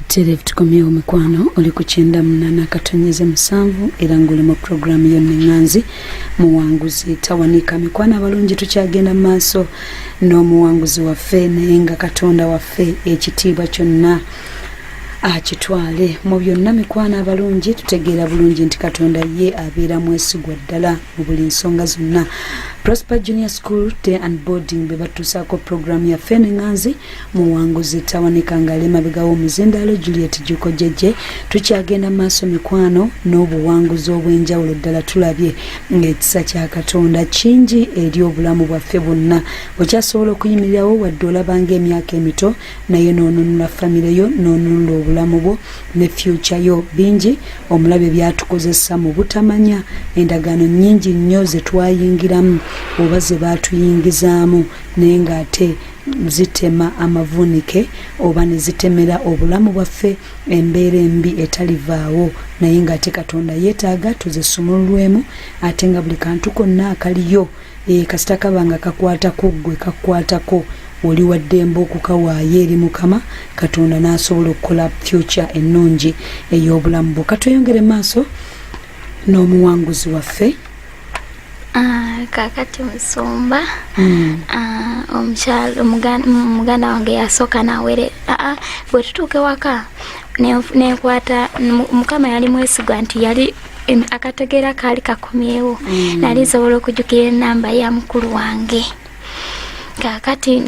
Telev tukomyewo mikwano oli ku kyenda munana katonyeze musanvu era ng'oli mu puroguraamu yonneŋŋanzi muwanguzi tawanika mikwano abalungi tukyagenda mu maaso n'omuwanguzi waffe naye nga katonda waffe ekitiibwa kyonna akitwale mu byonna mikwano abalungi tutegeera bulungi nti katonda ye abeera mwesigwa ddala mu buli nsonga zonna prosper junior school day and boarding bwe batuusaako puroguramu yaffe enenganzi muwanguzi tawanika ngaali emabega w'omuzindaalo juliet juko jeje tukyagenda maaso mikwano n'obuwanguzi obw'enjawulo ddala tulabye ng'ekisa kya katonda kingi eri obulamu bwaffe bwonna okyasobola okuyimirirawo wadde olabanga emyaka emito naye nonunula famire yo nonunula obulamu bwo ne fyuca yo bingi omulabe byatukozesa mu butamanya endagaano nyingi nnyo zetwayingiramu oba ze baatuyingizaamu naye ng'ate zitema amavuunike oba ne zitemera obulamu bwaffe embeera embi etalivaawo naye ng'ate katonda yeetaaga tuzisumululwemu ate nga buli kantu konna akaliyo na e, kasita kaba nga kakwatako gwe kakwatako oli waddembe okukawaayo eri mukama katonda n'asobola okukola fyuca ennungi ey'obulamu bwo katweyongere maaso n'omuwanguzi waffe ah, kakati musumba hmm. ah, omukyalo muganda wange yasooka nawere ah, bwe tutuuka ewaka nenkwata mukama yali mwesigwa nti yali akategeera kaali kakomyewo mm. nali nsobola okujukira enamba ya mukulu wange kakati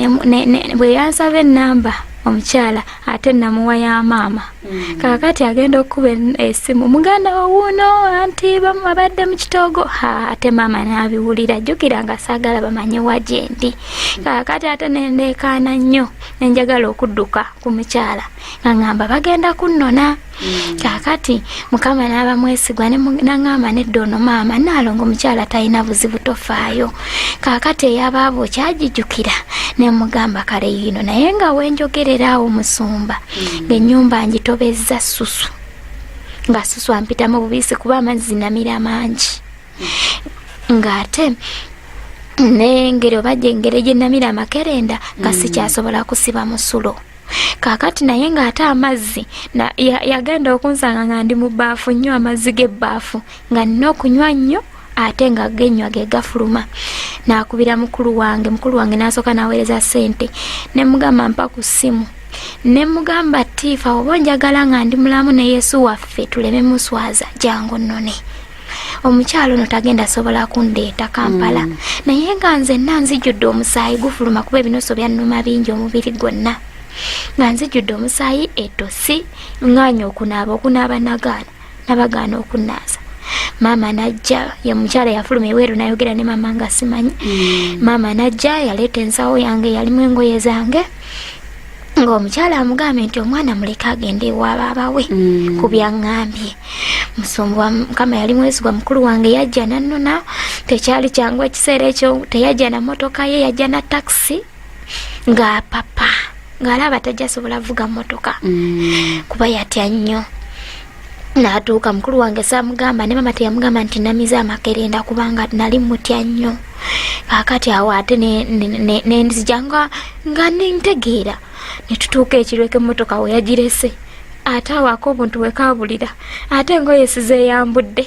bwe yansaba enamba omukyala ate namuwa ya maama mm. kakati agenda okukuba esimu muganda wowuuno anti babadde mu kitoogo ate maama nabiwulira jjukira nga saagala bamanye wa gyendi mm. kakati ate nendeekaana nnyo nenjagala okudduka ku mukyala nga ngamba bagenda kunnona Mm. kakati mukama naaba mwesigwa naŋamba nedda ono maama naalongo omukyala talina buzibu tofaayo kakati eyabaabo kyagijukira nemugamba kale yino naye nga wenjogerera awo musumba mm. ngaenyumba ngitobezza susu nga susu ampitamu bubisi kuba amazzi namira mangi mm. ngaate nengeri oba gyengeri gyenamira amakerenda nga sikyasobola kusiba musulo kakati naye ng'ate amazzi yagenda okunsanga nga ndi mu baafu nnyo amazzi g'ebbaafu nga nina okunywa nnyo ate nga genywa ge gafuluma nakubira mukulu wange mukulu wange nasooka naweereza sente ne mugamba mpa ku ssimu ne mugamba tiifa oba onjagala nga ndi mulamu ne yesu waffe tuleme muswaza jangu nnone omukyalo ono tagenda sobola kundeeta kampala mm. naye nga nzenna nzijjudde omusaayi gufuluma kuba ebinoso byannuma bingi omubiri gwonna nga nzijjudde omusaayi etosi ngaanya okunaaba okunaaba nagaana nabagaana okunaaza maama najja ye mukyala yafuluma eweeru nayogera ne maama nga simanyi mm. maama najja yaleeta ensawo yange yalimu engoye zange ng'omukyala amugambye nti omwana muleke agende ewa baaba we mm. ku byaŋŋambye musumbu wa mukama yali mwesigwa mukulu wange yajja nannona tekyali kyangu ekiseera ekyo teyajja na motoka ye yajja na takisi nga papa ng'alaba tajja asobola vuga motoka mm. kuba yatya nnyo Natuuka mukulu wange saamugamba ne maama teyamugamba nti namize amakerenda kubanga nali mutya nnyo kaakati awo ate nenzija nga nga nentegeera ne tutuuka ekirweka emmotoka we yagirese ate awaako obuntu bwekaabulira ate engoye sizeyambudde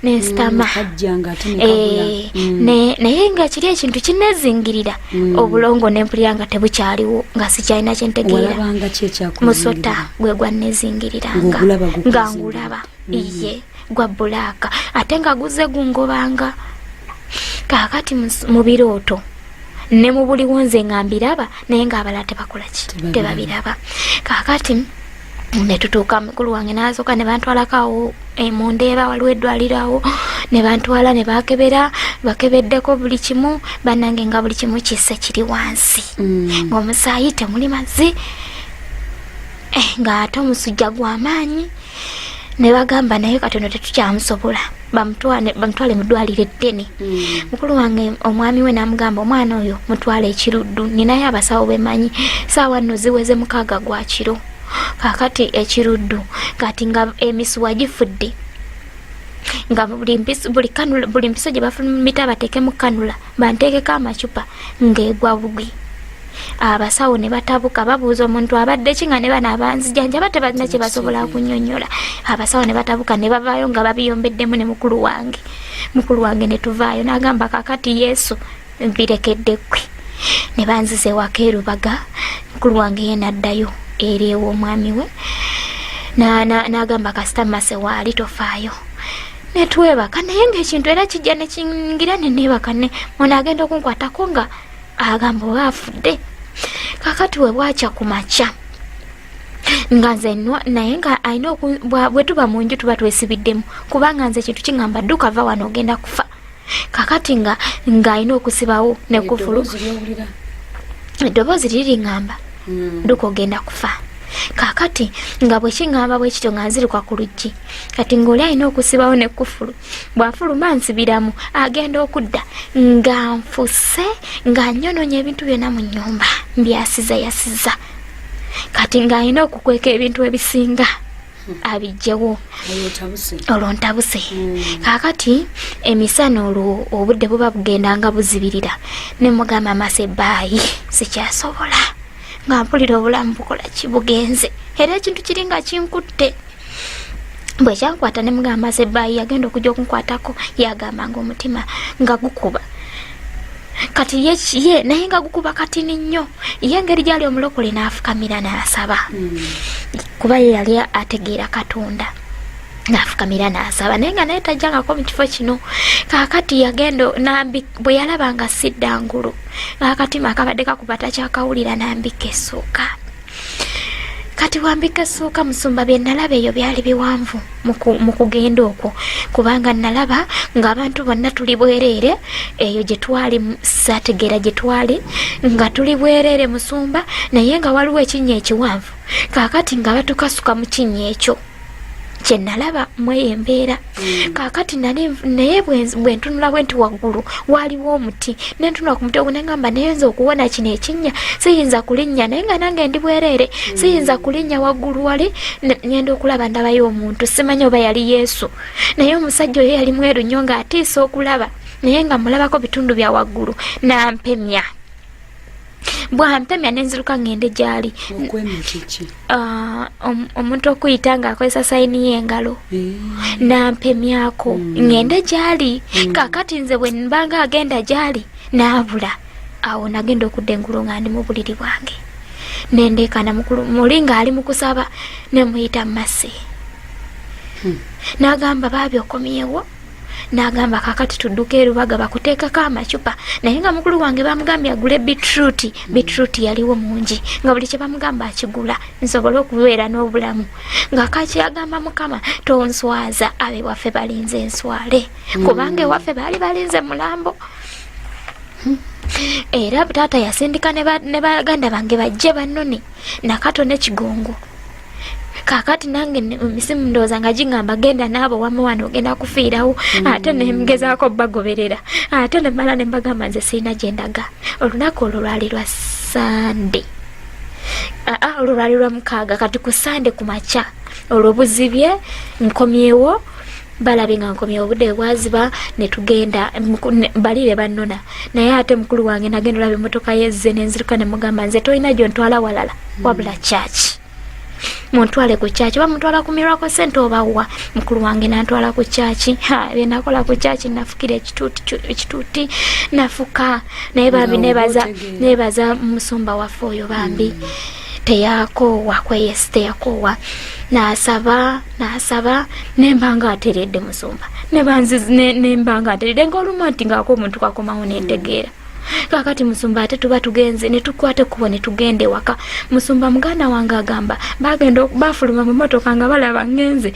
nensitama mm, eh, mm. naye nga kiri ekintu kinezingirira mm. obulongo nempulira nga tebukyaliwo nga sikyalina kyentegeera musota gwe gwannezingiriranga nga ngulaba iye gwa bulaaka ate nga guze gungobanga kakati mu birooto ne mu buliwo nze nga mbiraba naye nga abala tebakolaki tebabiraba kakati netutuuka mukulu wange nasoka nebantwalakawo eh, mundeeba waliwo eddwalirawo nebantwala nebakebera bakebeddeko buli kimu banange nga buli kimu kisse kiri wansi mm. ngaomusaayi temuli mazzi eh, nga ate omusujja gwamaanyi nebagamba naye katono tetukyamusobola bamutwale bamutwale mu ddwaliro eddene mm. mukulu wange omwami we n'amugamba omwana oyo mutwale ekiruddu ninayo abasawo bemanyi saawa nno ziweze mukaaga gwa kiro kakati ekiruddu kati nga emisuwa gifudde nga buli mpiso gye bafumita bateekemu kanula banteekeko amacupa ng'egwa bugwi abasawo ne batabuka babuuza omuntu abadde ki nga ne bano abanzijanjaba tebalina kye basobola kunyonyola abasawo ne batabuka ne bavaayo nga babiyombeddemu ne mukulu wange mukulu wange ne tuvaayo n'agamba kakati yesu mbirekedde ggwe ne banziza ewaka erubaga mukulu wange ye naddayo eri ew'omwami we n'agamba kasita mase waali tofaayo netwebaka naye ngaekintu era kijja nekingira nenebaka ne ono agenda okunkwatako nga agamba oba afudde kakati webwakya ku makya nga nze nwa naye nga alina bwe tuba mu nju tuba twesibiddemu kubanga nze ekintu kingamba dduka va wano ogenda kufa kakati nga ng'alina okusibawo nekufulu eddoboozi liri ngamba hmm. duka ogenda kufa kakati nga bwekiŋamba bwe kityo nga nziruka ku luggi kati ng'oli alina okusibawo nekufulu bw'afuluma nsibiramu agenda okudda nga nfuse nga nyononya ebintu byonna mu nnyumba mbyasiza yasiza kati ng'alina okukweka ebintu ebisinga abijjewo olwo ntabuse hmm. kakati emisana olwo obudde buba bugenda nga buzibirira nemugamba mase baayi sikyasobola nga mpulira obulamu bukola kibugenze era ekintu kiri nga kinkutte bwe kyankwata ne mugamba mase baayi yagenda okujja okunkwatako yagamba nga omutima nga gukuba kati ye ye naye nga gukuba katini nnyo ye engeri gyali omulokole n'afukamira n'asaba hmm. kuba ye yali ategeera katonda nafukamira nasaba naye nga naye tajjangako mu kifo kino kakati yagenda nambi bwe yalaba nga sidda ngulu akatima akabadde kakuba takyakawulira nambika essuuka kati wambika essuuka musumba bye nalaba eyo byali biwanvu mu kugenda okwo kubanga nalaba ng'abantu bonna tuli bwereere eyo gye twali sategeera gye twali nga tuli bwereere musumba naye nga waliwo ekinnya ekiwanvu kaakati nga batukasuka mu kinnya ekyo kye nalaba mweyo embeera mm. kaakati naye bwe ntunulawo nti waggulu waaliwo omuti ne ntunula ku muti ogwo ne ngamba naye nza okuwona kino ekinnya siyinza kulinnya naye nga nange ndi bwereere mm. siyinza kulinnya waggulu wali ngenda okulaba ndabayo omuntu simanya oba yali yesu naye omusajja oyo yali mweru nnyo ng'atiisa okulaba naye nga mulabako bitundu bya waggulu nampemya bwampemya nenziruka ngende gyali ah, omuntu okuyita nga akozesa sayini y'engalo eh. nampemyako hmm. ngende gyali hmm. kakati nze bwe mbanga agenda gyali naabula awo nagenda okudda engulu nga ndi mu buliri bwange nendeekana muli ng'ali mu kusaba nemuyita mu masi hmm. nagamba baabi okomyewo n'agamba kakati tudduka erubaga bakuteekako amacupa naye nga mukulu wange bamugambye agule bitruti bitruti yaliwo mungi nga buli kye bamugamba akigula nsobole okubeera n'obulamu nga kaki agamba mukama tonswaza abe waffe balinze enswale kubanga ewaffe baali balinze mulambo era taata yasindika ne baganda bange bajje bannone nakato nekigongo kakati nange misimu ndowooza nga gingamba genda naabo wama wano ogenda kufiirawo mm. ate nemgezaako bagoberera ate nemala nembagamba nze sirina gyendaga olunaku olwo lwali lwa sande aa ah, ah, olwo lwali lwa mukaaga kati ku sande ku makya olwo buzibye nkomyewo balabye nga nkomye obude bwaziba netugenda bali bebanona naye ate mukulu wange nagenda olaba emotoka yezze nenziruka nemugamba nze tolina gyontwala walala hmm. wabula kyaki muntwale ku kyaki oba mutwala ku mirako sente obawa mukulu wange nantwala ku kyaki byenakola ku kyaki nafukira ekituuti nafuka naye bambi nebaza musumba waffe oyo bambi hmm. teyakoowa kweyesi teyakoowa nasaba nasaba nemba nga ateredde musumba nemba nga ateredde ngaolumu ati ngaako omuntu kakomawo netegeera kakati musumba ate tuba tugenze netukwata ekkubo netugenda ewaka musumba muganda wange agamba bagenda bafuluma mu motoka nga balaba ngenze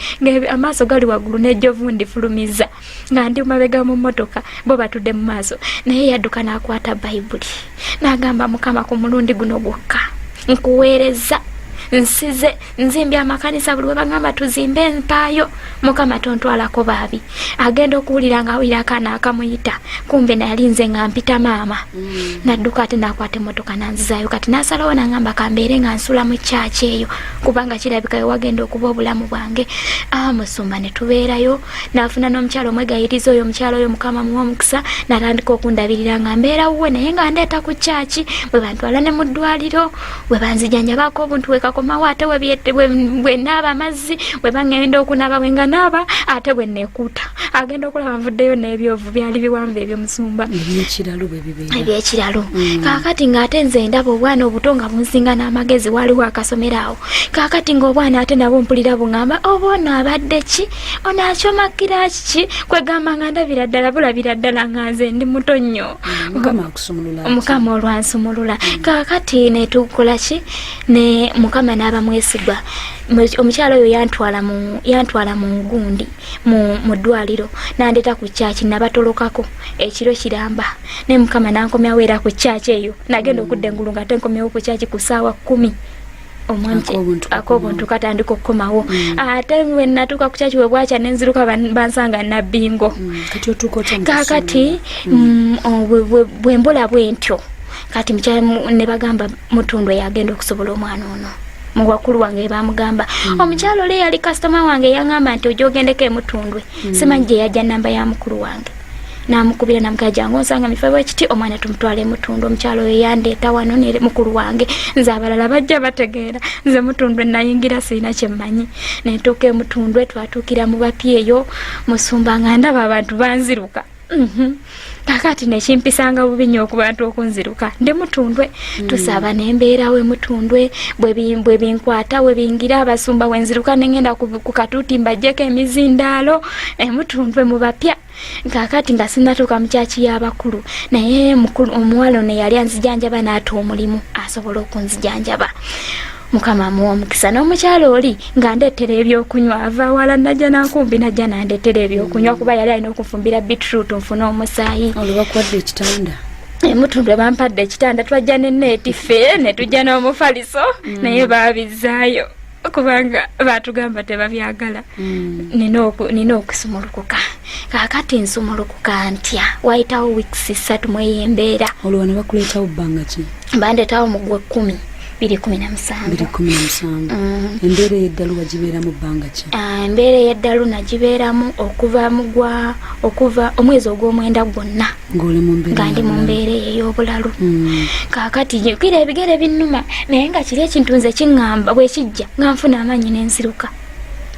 amaaso gali waggulu nejjovu ndifulumiza nga ndi mumabega mu mmotoka bo batudde mu maaso naye yadduka n'akwata bayibuli n'agamba mukama ku mulundi guno gwokka nkuweereza nsize nzimbye amakanisa buli webagamba tuzimbe empaayo mukama tontwalako baabi agenda okuwulira nga awulira akaana akamuyita kumbe nayali nze nga mpita maama mm. nadduka ate nakwata emotoka nanzizayo kati nasalawo nangamba kambeere nga nsula mu kyaki eyo kubanga kirabika wewagenda okuba obulamu bwange amusumba ah, netubeerayo nafuna n'omukyalo omwegayiriza oyo omukyalo oyo mukama muwa omukisa natandika okundabirira nga mbeera wuwe naye nga ndeeta ku kyaki bwe bantwala ne mu ddwaliro bwe banzijanjabaako obuntu wekakomawo ate bwe naaba amazzi bwe bangenda okunaba bwe nga naaba ate bwe nekuuta agenda okulaba nvuddeyo n'ebyovu byali biwanvu ebyomusumba ebyekiralo mm. kakati ngaate nze ndaba obwana obuto nga bunsinga n'amagezi waliwo akasomero awo kakati ngaobwana ate nabo mpulira bungamba oba oh, ono abadde ki ono akyomakira kiki kwegamba nga ndabira ddala bulabira ddala nga nze ndi muto nnyo mm, mukama olwansumulula mm. kakati netukola ki ne mukama n'abamwesigwa omukyalo oyo yantwala mu gundi mm. mu ddwaliro nandeta ku kyaki nabatolokako ekiro kiramba naye mukama nankomyawo era ku kyaki eyo nagenda okudda engulu nga ate nkomyawo ku kyaki ku saawa kumi akobuntu katandika okukomawo mm. ah, ate wenatuuka kukyaki webwakya nenziruka bansanga nabingo mm, kakati mm. bwembola bwentyo kati nebagamba mutundu eyagenda okusobola omwana ono muwakulu wange bamugamba mm. omukyalo ole yali kasitoma wange yangamba nti oja ogendeko emutundwe mm. simanyi gye yajja namba ya mukulu wange namukubira namugaa jangu onsanga mifebo ekiti omwana tumutwala emutundu omukyalo oyo yandeeta wano ne mukulu wange nze abalala bajja bategeera nze mutundwe nayingira sirina kyemmanyi nentuuka emutundwe twatuukira mu bapyeyo musumba nga ndaba abantu banziruka Mhm. kakati nekimpisanga bubi nyo okubantu okunziruka ndi mutundwe mm. tusaba nembeera we mutundwe bwe binkwata we bingira abasumba wenziruka nengenda ku katuuti mbajjeko emizindaalo emutundwe eh, mu bapya kakati nga sinatuuka mu kyaki y'abakulu naye omuwala ono yali anzijanjaba naata omulimu asobola okunzijanjaba mukama amuwa omukisa n'omukyalo oli nga ndeetera ebyokunywa ava wala najja nankumbi najja nandeetera ebyokunywa kuba yali alina okunfumbira bitrut nfuna omusaayi olubakwadde ekitanda emutundwe bampadde ekitanda twajja neneeti ffe netujja n'omufaliso mm. naye baabizaayo kubanga batugamba tebabyagala mm. nina okusumulukuka kakati nsumulukuka ntya wayitawo wiks ssatu mweyembeera olwo wano bakuleetawo bbanga ki bandetawo mu gwe kumi biri kumi na musanvu mm. embeera eyeddalu wagibeeramu bbanga ki ah, embeera eyeddalu nagibeeramu okuva mugwa okuva omwezi ogw'omwenda gwonna nga ndi mu mbeera eyo ey'obulalu mm. kakati kira ebigere binnuma naye nga kiri ekintu nze kiŋŋamba bwekijja nga nfuna amaanyi n'enziruka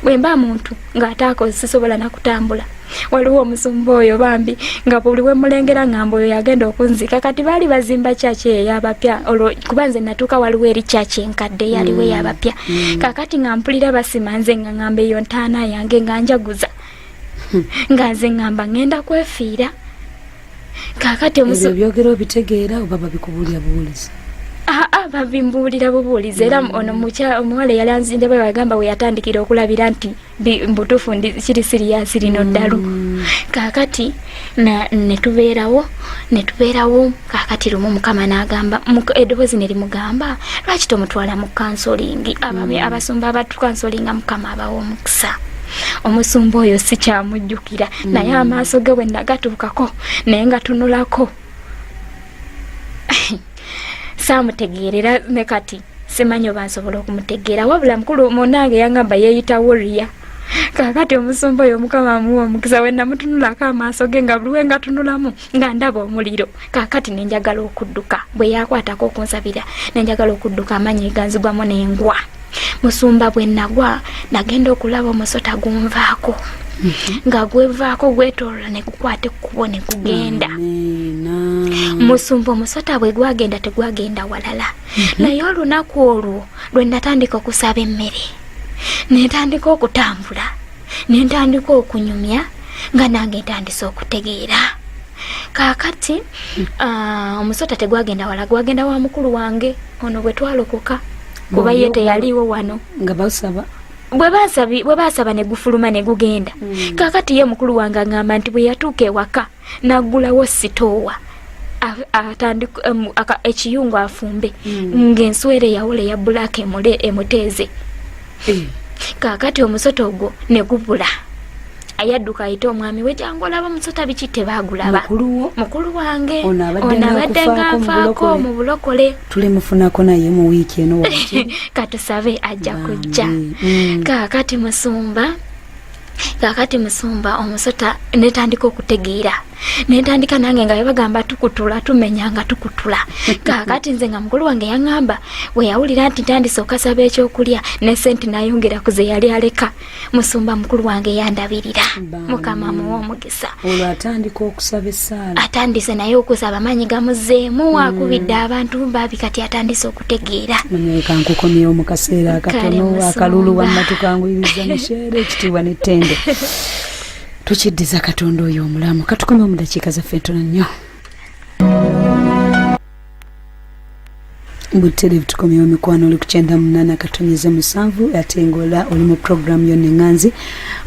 bwe mba muntu ng'ataako sisobola nakutambula waliwo omusumba oyo bambi nga buli wemulengera ngamba oyo yagenda okunzika kati baali bazimba kyaki eyo yabapya olwo kuba nze natuuka waliwo eri kyaki enkadde yaliwo mm. yabapya mm. kakati nga mpulira basima nze nga ngamba eyo ntaana yange nga njaguza hmm. nga nze ngamba ngenda kwefiira kakati omusu ebyogera obitegeera oba babikubuulira buwulizi aa ah, ah, babimbuulira bubuulizi era mm. ono omuwala eyali anzinde bwe bagamba we yatandikira okulabira nti mbutuufu ndi kiri siriyasi lino mm. ddalu kakati netubeerawo netubeerawo kakati lumu mukama nagamba eddoboozi ne limugamba lwaki tomutwala mu kansolingi mm. abasumba abatukansolinga mukama abawa omukisa omusumba oyo sikyamujjukira mm. naye amaaso ge bwe nagatuukako naye nga tunulako saamutegeerera ne kati simanyi oba nsobola okumutegeera wabula mukulu munange yangamba yeeyita woriya kakati omusumba oyo mukama amuwa omukisa wenamutunulako amaaso ge nga buli we ngatunulamu nga ndaba omuliro kakati nenjagala okudduka bwe yakwatako okunsabira nenjagala okudduka amanyi eganzigwamu nengwa musumba bwe nagwa nagenda okulaba omusota gunvaako mhm. nga gwevaako gwetolola negukwata ekkubo negugenda musumba omusota bwe gwagenda tegwagenda walala mhm. naye olunaku olwo lwe natandika okusaba emmere netandika okutambula ne ntandika okunyumya nga nange ntandise okutegeera kaakati ah, omusota tegwagenda wala gwagenda wa mukulu wange ono bwe twalokoka kuba ye teyaliiwo wano nga basaba bwe baasaba ne gufuluma ne gugenda mm. kaakati ye mukulu wange aŋamba nti bwe yatuuka ewaka naggulawo sitoowa atandika ekiyungu afumbe hmm. ng'enswera eyawula eya bulaaka emuteeze eh. kaakati omusota ogwo ne gubula ayadduka ayite omwami we jangu olaba omusota biki tebaagulaba mukulu wange ono abadde nganfaako mu bulokole tulemufunako naye mu wiiki eno katusabe ajja kujja hmm. kaakati musumba kakati musumba omusota netandika okutegeera netandika nange nga bebagamba tukutula tumenya nga tukutula kakati nze nga mukulu wange yaŋamba weyawulira nti ntandise okasaba ekyokulya ne sente nayongera ku ze yali aleka musumba mukulu wange yandabirira mukama muwa omugisa sa olwo atandika okusaba essaala atandise naye okusaba amaanyi gamuzeemu mm. akubidde abantu baabi kati atandise okutegeera manyeka nkukomyewo mu kaseera akatono akalulu wammatukanguyiriza musheera ekitiibwa n'ettendo tukiddiza katonda oyo omulamu katukomyewo mu dakiika zaffe ntono nnyo butterevu tukomyewo mikwano oli kukyenda munana katonyeze musanvu ate ngaola oli mu programu yonna eŋanzi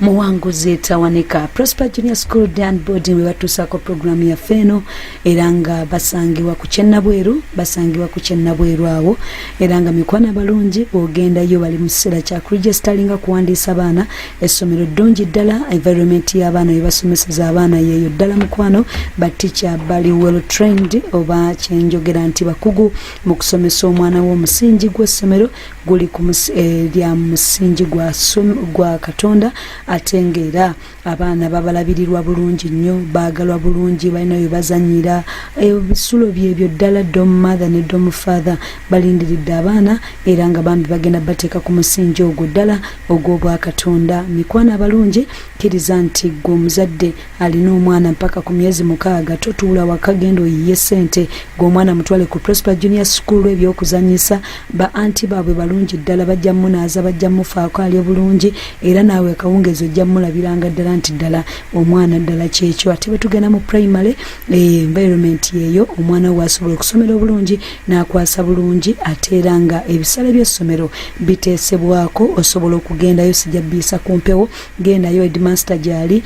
muwanguzi etawanika prosper junior school dan boarding webatuusaako programu yaffe eno era nga basangibwa ku kyennabweru basangibwa ku kyennabweru awo era nga mikwano abalungi bwogendayo bali mu kiseera kya kuregisteringa kuwandiisa baana essomero ddungi ddala environment y'abaana bebasomeseza abaana yeeyo ddala mukwano batica bali well trained oba kyenjogera nti bakugu mu kusomesa omwana w'omusingi gw'essomero guli eh, lya musingi gwa katonda ate ngaera abaana babalabirirwa bulungi nnyo baagalwa bulungi balina bye bazanyira ebisulo eh, byebyo ddala dom mother ne dom father balindiridde abaana era nga bambi bagenda bateeka ku musingi ogwo ddala ogw'obwakatonda mikwano abalungi kkiriza nti gwe omuzadde alina omwana mpaka ku myezi mukaaga totuula waka genda oyiye ssente gweomwana mutwale ku prosper junior school ebyokuzanyisa ba anti baabwe balungi ddala bajja munaaza bajja mufaako ali obulungi era naawe akawungeezi ojja mulabiranga ddala nti ddala omwana ddala kyekyo ate bwe tugenda mu primary eh, environment yeeyo omwana we asobola okusomera obulungi n'akwasa bulungi ate era nga ebisale by'essomero biteesebwako osobola okugendayo sijja biyisa ku mpewo gendayo edmaster gyali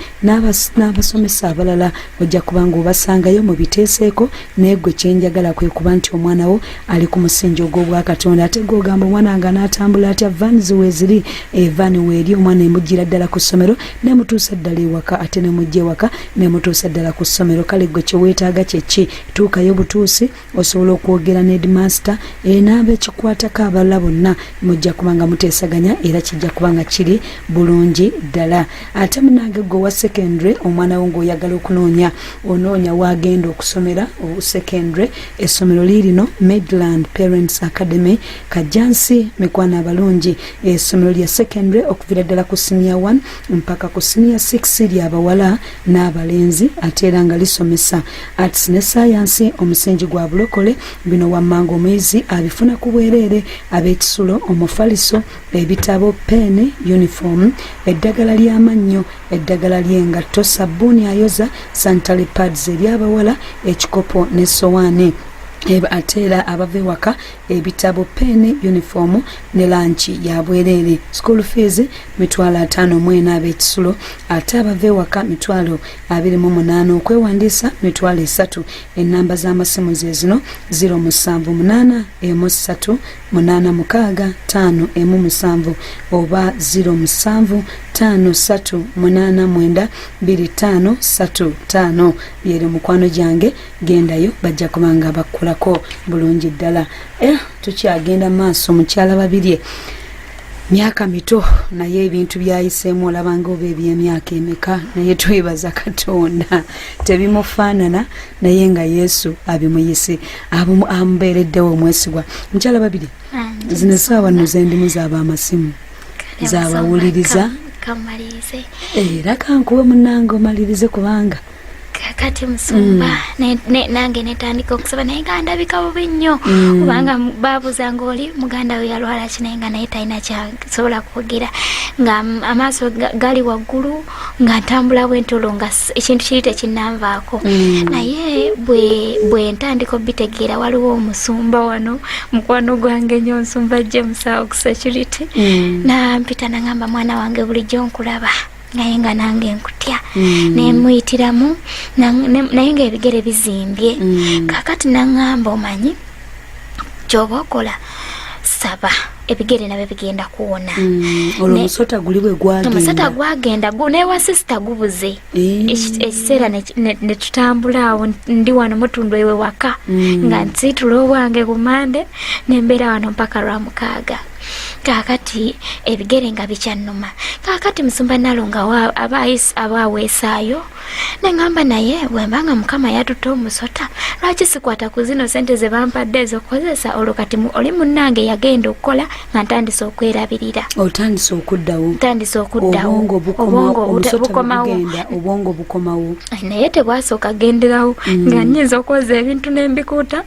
n'abasomesa abalala ojja kuba nga obasangayo mu biteeseeko naye gwe kyenjagala kwe kuba nti omwana wo ali ku musingi ogw'obwakatonda ate gweogamba omwana nga n'atambula atya van ziweeziri evan eh, weeri omwana emujjira ddala ku ssomero nemutuusa ddala ewaka ate nemujja ewaka nemutuusa ddala ku ssomero kale gwe kyeweetaaga kyekki tuukayo butuusi osobola okwogera ne edmaster eh, n'abekikwatako abalala bonna mujja kuba nga muteesaganya era kijja kuba nga kiri bulungi ddala ate munange gwe owa secondary omwana wo ngaoyagala okunoonya onoonya waagenda okusomera secondary essomero liirino midland parents academy kajjansi mikwano abalungi essomero lya secondary okuvira ddala ku senior 1 mpaka ku siniya 6 lya bawala n'abalenzi ate era nga lisomesa arts ne sayansi omusingi gwa bulokole bino wammanga omuyizi abifuna ku bwereere ab'ekisulo omufaliso ebitabo peeni yunifoomu eddagala ly'amannyo eddagala ly'engatto sabbuuni ayoza santale pads ery'abawala ekikopo n'essowaani ate era abava ewaka ebitabo peeni yunifoomu ne lanki ya bwereere school fees mitwalo ataano mu ena ab'ekisulo ate abava ewaka mitwalo abiri mu munaana okwewandiisa mitwalo esatu ennamba z'amasimu ze zino ziro musanvu munaana emu ssatu munaana mukaaga taano emu musanvu oba ziro musanvu taano ssatu munaana mwenda biri taano ssatu taano byeri mukwano gyange gendayo bajja kuba nga bakkolako bulungi ddala eh, tukyagenda maaso mukyala babirye myaka mito naye ebintu byayiseemu olabanga oba ebyemyaka emeka naye twebaza katonda tebimufaanana naye nga yesu abimuyise amubeereddewo omwesigwa mukyala babiri zino esaawa no zendimu zaaba amasimu zabawuliriza era kankuwe munange omalirize kubanga kakati musumba mm. nange netandika okusaba naye nga ndabika bubi nnyo mm. kubanga babuza nga oli muganda we yalwala ki naye nga naye talina kyasobola kwogera nga amaaso gali waggulu nga ntambula bwentolo nga ekintu kiri tekinanvaako mm. naye bwe ntandika obitegeera waliwo omusumba wano mukwano gwange nyo nsumba jemusawo ku security nampita nangamba mwana wange bulijjo nkulaba naye nga nange nkutya mm. nemuyitiramu naye nga ebigere bizimbye mm. kakati naŋamba omanyi kyoba okola saba ebigere nabyo bigenda kuwona mm, olwo omusota guli bwe gwagenda omusota gwagenda newa sisita gubuze eh. ekiseera ne tutambula awo ndi wano mutundu ewe waka mm. nga nsiitula obwange ku mande ne mbeera wano mpaka lwa mukaaga kaakati ebigere nga bikyannuma kaakati musumba nalonga aba aweesaayo neŋamba naye wemba nga mukama yatutte omusota lwaki sikwata ku zino sente ze bampadde ezokukozesa olwo kati oli munnange yagenda okukola nga ntandise okwerabirira otandise okuddawo ntandise okuddawo obwongo bukomawo obwongo bukomawo naye tebwasooka genderawo mm. nga nyinza okwoza ebintu nembikuuta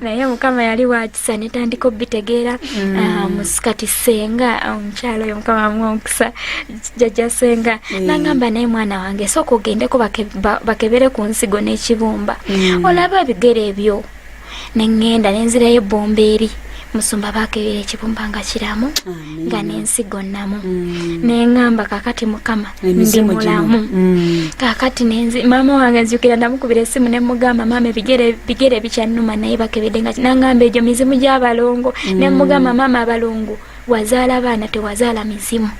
naye mukama yali wakisa netandika obitegeera mm. ah, musikati senga ah, omukyalo oyo mukama amwomukisa jaja senga mm. nangamba naye mwana wange sooka ogendeko bakebere ku nsigo n'ekibumba mm. olaba ebigere ebyo neŋŋenda nenzirayo ebbomba eri musumba bakebera ekibumba nga kiramu ah. nga nensigo namu mm. nengamba kakati mukama ndi mulamu mm. kakati nenzi mama wange nzukira namukubira esimu nemugamba mama ebigere bigere bikyanuma naye bakebede nga nangamba egyo mizimu gyabalongo mm. nemugamba mama abalongo wazaala abaana tewazaala mizimu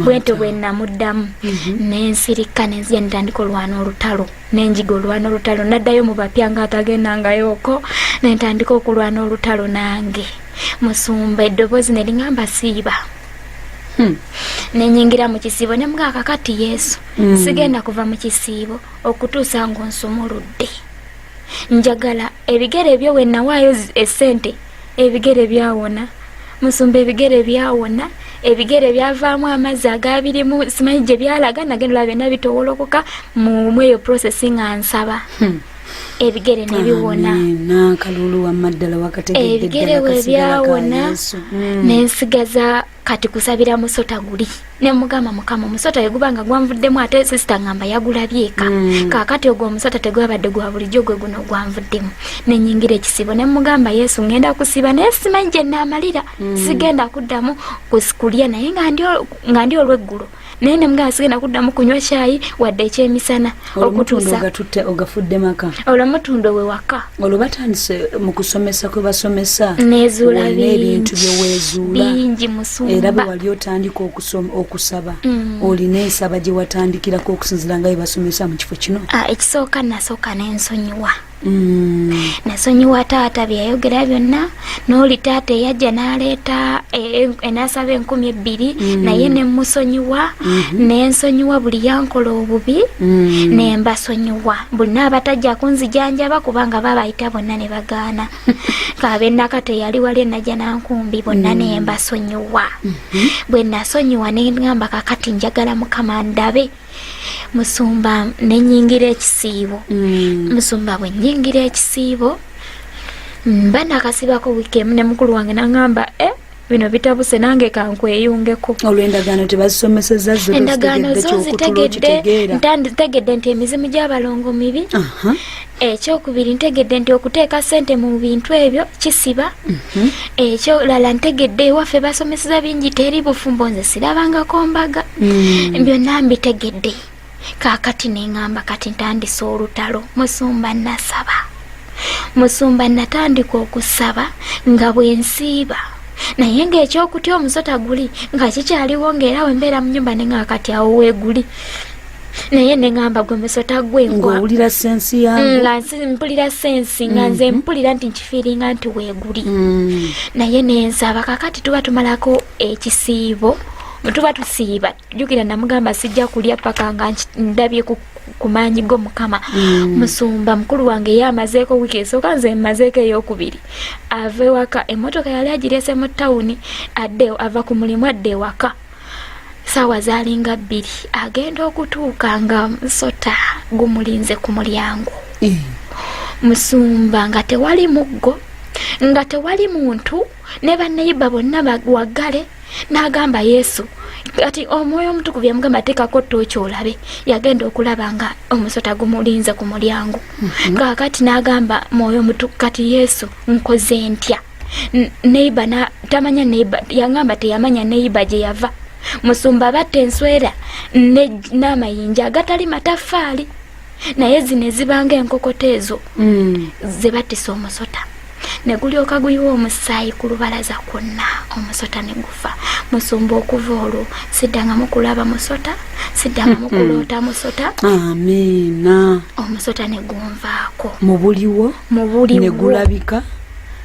bwentyo bwe namuddamu mhm. nensirika nenzija nitandika olwana olutalo nenjiga olwana olutalo naddayo mu bapya nga atagendangayooko nentandika okulwana olutalo nange musumba eddoboozi ne liŋamba siiba hmm. nenyingira mu kisiibo ne mga kakati yesu hmm. sigenda kuva mu kisiibo okutuusa ng'onsumuludde njagala ebigere ebyo we nawaayo essente ebigere byawona musumba ebigere byawona ebigere byavaamu amazzi agabirimu simanyi gye byalaga nagenda olaba byonna bitowolokoka mu mweyo processing ansaba hmm. ebigere ne biwona akalulu wamma ddala wakategedde ebigere we byawona mm. ne nsigaza kati kusabira musota guli ne mugamba mukama omusota yeguba nga gwanvuddemu ate sisita ngamba yagulabyeka mm. kakati ogwo omusota tegwabadde gwa bulijjo gwe guno gwanvuddemu ne nyingira ekisibo ne mugamba yesu ngenda kusiba naye simanyi gye naamalira mm. sigenda kuddamu kulya naye nga ndi olweggulo naye ne mugamba sigenda kuddamu kunywa kyayi wadde ekyemisana okutuusaogatutte ogafudde maka olwo mutunda owe waka olwo batandise mu kusomesa kwe basomesa nezuula ebintu byeweezuula bingi musumba era bwe wali otandika okusaba mm. olina ensaba gye watandikirako okusinzira nga bye basomesa mu kifo kino ah, ekisooka nasooka nensonyiwa Mm. nasonyiwa taata byeyayogera byonna nooli taata eyajja naleeta e, e, enasaba enkumi ebbiri mm. naye nemusonyiwa mm-hmm. nensonyiwa buli yankola obubi mm. nembasonyiwa buli naabatajja kunzijanjaba kubanga babayita bonna ne bagaana kabenaka teyali wali enajja nankumbi bonna nembasonyiwa mm-hmm. bwe nasonyiwa nengamba kakati njagala mukama ndabe musumba nenyingira ekisiibo mm. musumba bwe nyingira ekisiibo mba nakasibako wiiki emu ne mukulu wange nangamba e eh, bino bitabuse nange kankweyungeko olwendagaano tebazisomeseza endagaano zo zitegedde ntanditegedde nti emizimu gy'abalongo mibi ekyokubiri ntegedde nti okuteeka sente mu bintu ebyo kisiba mhm. ekyolala ntegedde ewaffe basomeseza bingi teri bufumbo nze sirabangako mbaga mm. byonna mbitegedde kakati nengamba kati ntandise olutalo musumba nasaba musumba natandika okusaba nga bwensiiba naye ngaekyokutya omusota guli nga kikyaliwo ngaera wembeera mu nyumba nenga kati awo weguli naye neŋamba gwe musota gwengowulira sensi yange mm, mpulira sensi nga nze mm-hmm. mpulira nti nkifiiringa nti weeguli mm. naye nensaba kakati tuba tumalako ekisiibo tuba tusiiba jukira namugamba sijja kulya paka nga ndabye ku maanyi go mukama mm. musumba mukulu wange ye amazeeko wiiki esooka nze mmazeeko eyokubiri ava ewaka emmotoka yali agirese mu tawuni adde ava ku mulimu adde ewaka saawa zaalinga bbiri agenda okutuuka nga musota gumulinze ku mulyango eh. musumba nga tewali muggo nga tewali muntu ne bannayiba bonna waggale n'agamba yesu kati omwoyo omutukuvu yamugamba teekako tooki olabe yagenda okulaba nga omusota gumulinze ku mulyango mhm. kakati n'agamba mwoyo omutuku kati yesu nkoze ntya neiba na tamanya neiba yangamba teyamanya neiba gye yava musumba abatta enswera n'amayinja agatali mataffaali naye zino ezibanga enkokota ezo mm. ze batisa omusota ne gulyoka guyiwa omusaayi ku lubalaza kwonna omusota ne gufa musumba okuva olwo siddangamu kulaba musota siddangamu hmm. kuloota musota amiina omusota ne gunvaako mu buliwo mu buliwo ne gulabika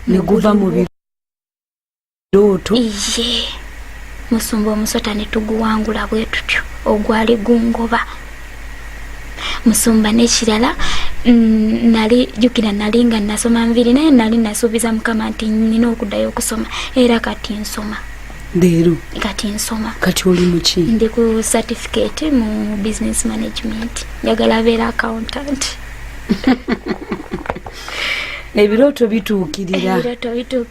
ne guva mu birooto iye musumba omusota ne tuguwangula bwe tutyo ogwali gungoba musumba n'ekirala mm, nali jukira nali nga nasoma nviri naye nali nasuubiza mukama nti nina okuddayo okusoma era kati nsoma leero kati nsoma kati oli muki ndi ku certificate mu business management njagala beera accountant ebirooto bituukirira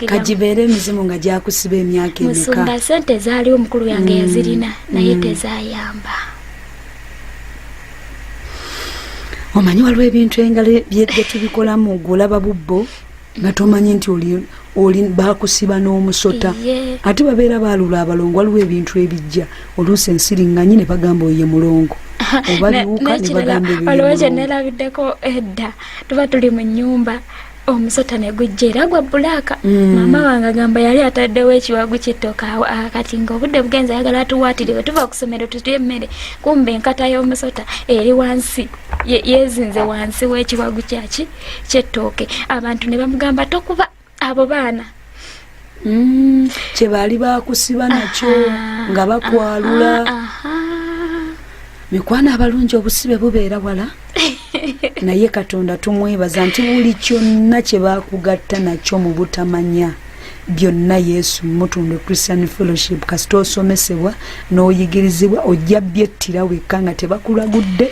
kagibeere emizimu nga gyakusiba emyaka emeka sente zaaliwo omukulu yange mm. yazirina naye mm. tezayamba omanyi waliwo ebintu engalo byetubikolamu gweolaba bubbo nga tomanyi nti oli bakusiba n'omusota ate babeera baalula abalongo waliwo ebintu ebijja oluusi ensiringanyi ne bagamba oye mulongo oba biwuka ne bagamba ebyo tuba tuli mu nnyumba omusota ne gujja era gwa bulaaka mm. maama wange agamba yali ataddewo ekiwagu kyettoka ah, kati ngaobudde bugenza ayagala atuwaatire bwe tuva ku ssomero tutya emmere kumba enkata y'omusota eri wansi yezinze wansi w'ekiwagu kyaki kyettooke abantu ne bamugamba tokuba abo baana mm, kye baali bakusiba nakyo nga bakwalula mikwano abalungi obusibe bubeera wala naye katonda tumwebaza nti buli kyonna kye bakugatta nakyo mu butamanya byonna yesu mutundu christian fellowship kasita osomesebwa n'oyigirizibwa ojja byettira wekka nga tebakulagudde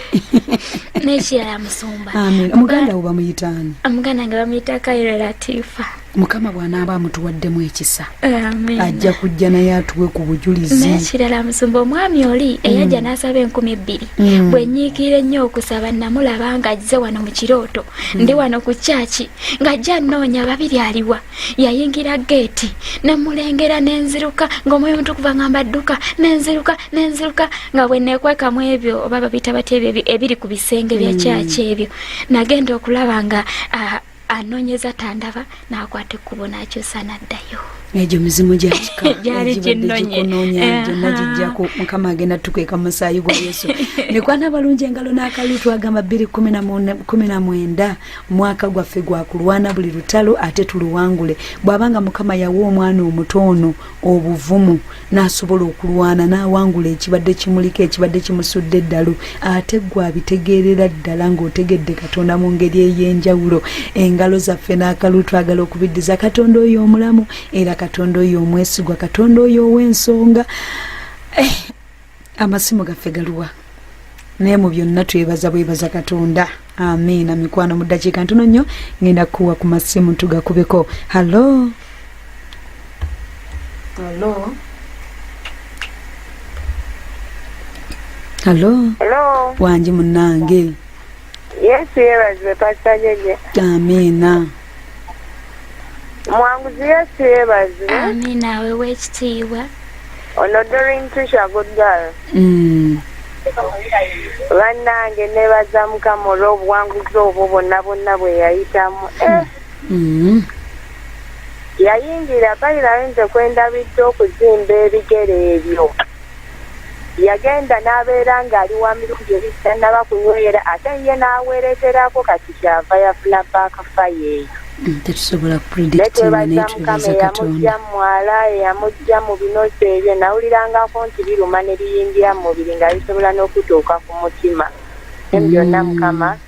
nekirala musumba amin omuganda wo bamuyitaani omuganda nga bamuyita kairo latifa mukama bw'anaaba amutuwaddemu ekisa ajja kujja naye atuwe ku bujulizi nekirala musumba omwami oli eyajja mm. n'asaba enkumi ebbiri mm. bwe nyiikira ennyo okusaba namulaba ng'ajze wano mu kirooto mm. ndi wano ku kyaki ng'ajja nnoonya babiri aliwa yayingira geeti nemulengera nenziruka ngaomwoyo mutukuva ngamba dduka nenziruka nenziruka nga bwenekwekamu ebyo oba babita bati ebyo ebiri ku bisenge bya hmm. kyaki ebyo nagenda okulaba nga anonyeza tandaba nakwata ekkubo nakyusa naddayo egyo mizimu gyakikagyali ginonyenagijaku eh, mukama agenda tukweka musaayi gwa yesu nekwana balungi engalo n'akalu twagamba bbiri kumi na mwenda mwaka gwaffe gwakulwana buli lutalo ate tuluwangule bwaba nga mukama yawa omwana omuto ono obuvumu nasobola okulwana nawangula ekibadde kimuliko ekibadde kimusudde eddalu ate gwe abitegeerera ddala ngaotegedde katonda mu ngeri ey'enjawulo engalo zaffe n'akalu twagala okubiddiza katonda oyo omulamu era katonda oyo omwesigwa katonda oyo ow'ensonga eh, amasimu gaffe galuwa naye mu byonna twebaza bwebaza katonda amiina mikwano mu ddakiika ntono nnyo ngenda kukuwa ku masimu tugakubeko hallo hallo hallo wangi munnange yesu yebazibwe pasita jeje amiina mwanguzi yesu yebazibwe amina awe wekitiibwa ono dorin tisha good girl mm. bannange nebaza mukama olw'obuwanguzi obwo bonna bonna bwe yayitamu eh. mm. yayingira bayira ayinza kwendabidde okuzimba ebigere ebyo yagenda n'abeera ng'ali wa mirundi ebiri tannaba kunywera ate ye n'awereeterako kati kyava yafuna backfire eyo mm, netwebaza mukama eyamujja mu mwala eyamujja mu binosi ebyo nawulirangako nti biruma ne biyingira mu mubiri nga bisobola n'okutuuka ku mutima mm. byonna mukama mm.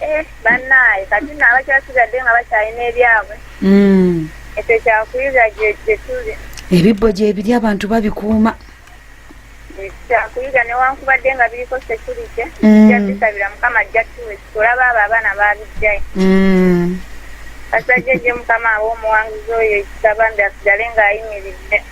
Eh, bannaaye kati nno abakyasigadde nga bakyalina ebyabwe mm. ekyo kyakuyiza gyetuli ebibbo gyebiri abantu babikuuma kyakuyiga newankubadde nga biriko security mm. jabisabira mukama ajja tuwe olaba abo abaana babijjayo mm. kasajja gye mukama aba omuwanguzi oyo ekisabambi asigale ng'ayimiridde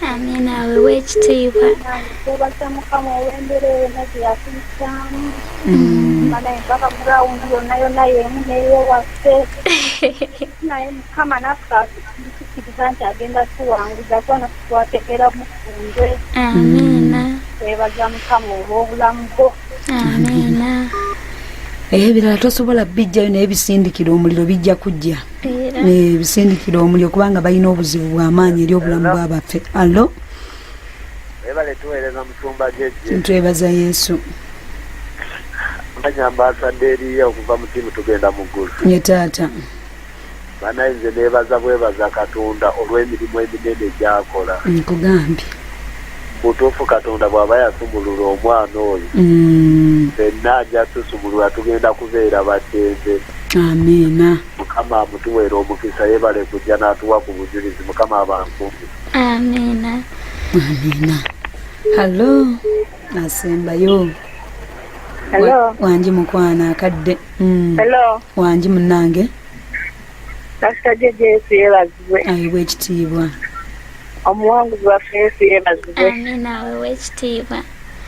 Amina awe w'ekitiibwa twebasa mukama olw'embeera eyo naze yatuyisaamu mana empaka gurawundi yonna yonna yemu neyo waffe naye mukama naffe atukiriza nti agenda tuwanguza kona twategera mufunze amiina twebaza mukama olw'obulamu bwo amiina ebirala tosobola bijjayo naye bisindikira omuliro bijja kujja nebisindikira omuliro kubanga balina obuzibu bwamaanyi eri obulamu bwabaffe allo twebaza yesu manya ambasadde eriye okuva mu tiimu tugenda mu ggulu ye taata banaye nze neebaza bwebaza katonda olw'emirimu eminene gyakola nkugambye mutuufu katonda bwaba yasumulula omwana oyo mm. fenna aja tusumulula tugenda kubeera baddembe amiina mukama amutuweera omukisa yebale kujja n'atuwa ku bujulizi mukama abankumbi amiina amiina hallo asembayo wangi mukwana akadde mm. wangi munange Pastor JJ Yesu yebazibwe. Ayibwe ekitiibwa. Omuwanguzi waffe Yesu yebazibwe. Amina wewe ekitiibwa.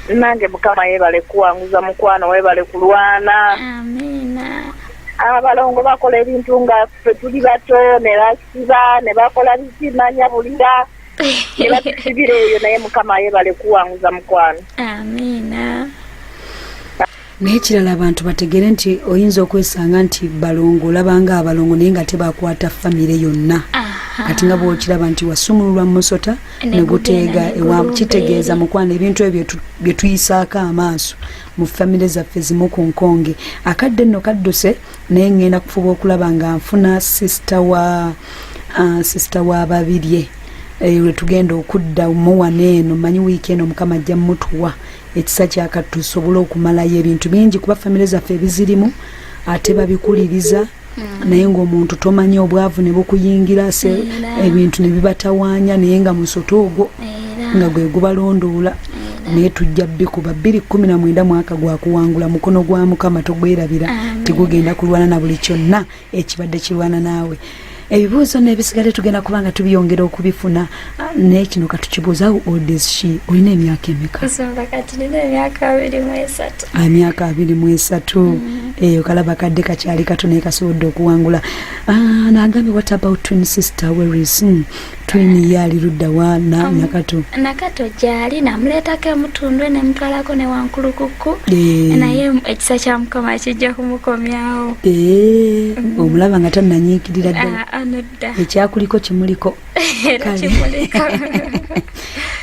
Nange Mukama yebale kuwanguza mukwano webale kulwana. Amina. Abalongo bakola ebintu nga ffe tuli bato ne basiba ne bakola bizimanya bulira. Ne batusibira eyo naye Mukama yebale kuwanguza mukwano. Amina. naye kirala abantu bategere nti oyinza okwesanga nti balongo olabanga abalongo naye nga tebakwata famire yonna kati nga bwokiraba nti wasumululwa mumusota neguteega kitegeeza mukwano ebintu ebyo byetuyisaako amaaso mu famire zaffe zimu ku nkonge akadde nno kadduse naye ngenda kufuba okulaba nga nfuna sisita wa uh, sisita wa babirye eh, lwetugenda okudda muwano eno manyi wiiki eno mukama ajja mutuwa ekisa kyakati tusobole okumalayo ebintu bingi kuba famire zaffe ebizirimu ate babikuliriza Mm. naye ngaomuntu tomanya obwavu nebukuyingira se ebintu nebibatawanya naye nga musoto ogwo nga gwe gubalondoola naye tujja bikuba bbiri kumi na mwenda mwaka gwakuwangula mukono gwa mukama togwerabira tigugenda kulwana na buli kyonna ekibadde kirwana naawe ebibuuzo n'ebisigadde tugenda kuba nga tubiyongera okubifuna ah, naye kino katukibuuza odshi olina emyaka emeka emyaka abiri mu esatu ah, mm-hmm. eyo kalaba kadde kakyali kato naye kasobodde okuwangula ah, nagambye what about twin sister weris hmm. twini ye ali ludda wa na um, nakato nakato gyali namuleetako emutundwe nemutwalako ne wankulukukku eh. naye ekisa kya mukama kijja kumukomyawo eh, mm. omulaba nga tananyiikirira ddala ah, ah, ekyakuliko kimuliko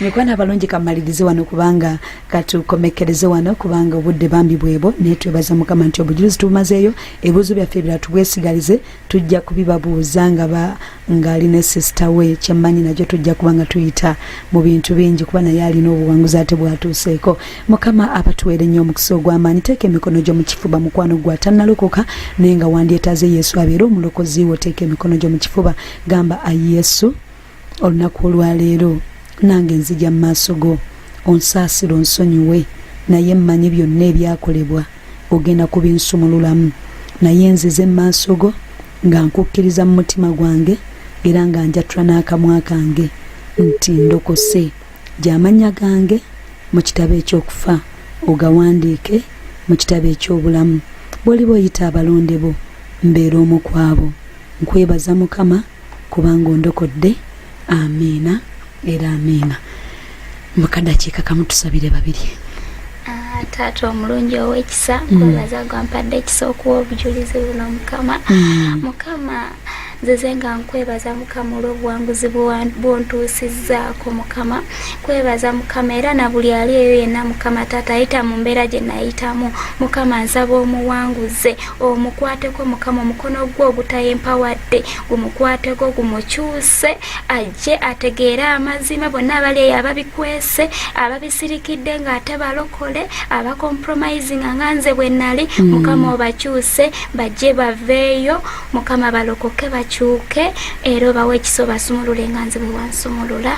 mikwana abalungi kamalirize wano kubanga katukomekereze wano kubanga obudde bambi bwebo naye twebaza mukama nti obujulizi tubumazeeyo ebibuzo byaffe ebirala tubwesigalize tujja kubibabuuza nga ng'ali ne sisita we kyemmanyi nakyo tujja kuba nga tuyita mu bintu bingi kuba naye alina obuwanguzi ate bwatuuseeko mukama abatuweere nnyo omukisa ogw'amaanyi teeka emikono gyo mu kifuba mukwano gwa tannalokoka naye nga wandyetaaze yesu abeere omulokozi wo teeka emikono gyo mu kifuba gamba ayi yesu olunaku olwaleero nange nzija mu maaso go onsaasira onsonyiwe naye mmanyi byonna ebyakolebwa ogenda kubinsumululamu naye nzize mu maaso go nga nkukkiriza mu mutima gwange era nga njatula n'akamwa kange nti ndokose gy'amannya gange mu kitabo eky'okufa ogawandiike mu kitabo eky'obulamu bw'oliba oyita abalonde bo mbeera omu kwabo nkwebaza mukama kubanga ondokodde amiina era amiina mukadakiika kamutusabire babiri ah, taata omulungi owekisa mm. kwebaza gwampadde ekisa okuwa obujulizi buno mukama mm. mukama nzize nga nkwebaza mukama olwobuwanguzi bwontuusizzaako mukama kwebaza mukama era na buli ali eyo yenna mukama taata ayita mu mbeera gye nayitamu mukama nsaba omuwanguze omukwateko mukama omukono gwo ogutayempawadde gumukwateko gumukyuse ajje ategeere amazima bonna abali eyo ababikwese ababisirikidde ng'ate balokole abacompromisinga nga nze bwe nali mm. mukama obakyuse bajje baveeyo mukama balokoke bakyuke era obawo ekiso basumulule nga nze bwe wansumulula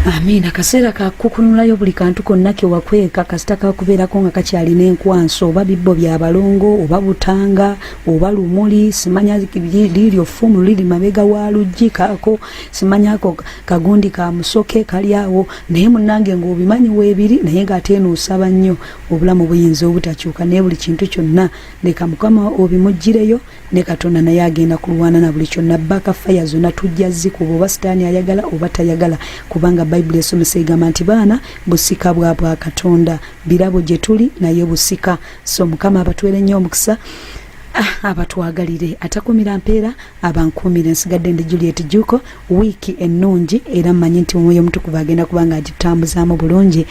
amiina akaseera kakukunulayo buli kantu konna kewakweka kasita kakubeerako nga kakyalina enkwanso oba bibbo bya balongo oba butanga oba lumuli simanya liryo ffumu liri mabega wa luggi kaako simanyako kagundi ka musoke kali awo naye munange ngaobimanyi weebiri naye ngaate eno osaba nnyo obulamu buyinza obutakyuka naye buli kintu kyonna leka mukama obimuggireyo ne katonda naye agenda kulwana na buli kyonna baka faya zonna tujja zikuba oba sitaani ayagala oba tayagala kubanga bayibuli esomesa egamba nti baana busika bwa bwa katonda birabo gye tuli naye busika so mukama abatwere nnyo omukisa ah, abatwagalire atakumira mpeera abankuumire nsigadde ndi juliet juko wiiki ennungi era mmanyi nti omwoyo omutukuva agenda kubanga agitambuzaamu bulungi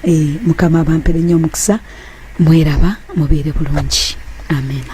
e, mukama abampere nnyo omukisa mweraba mubeere bulungi amena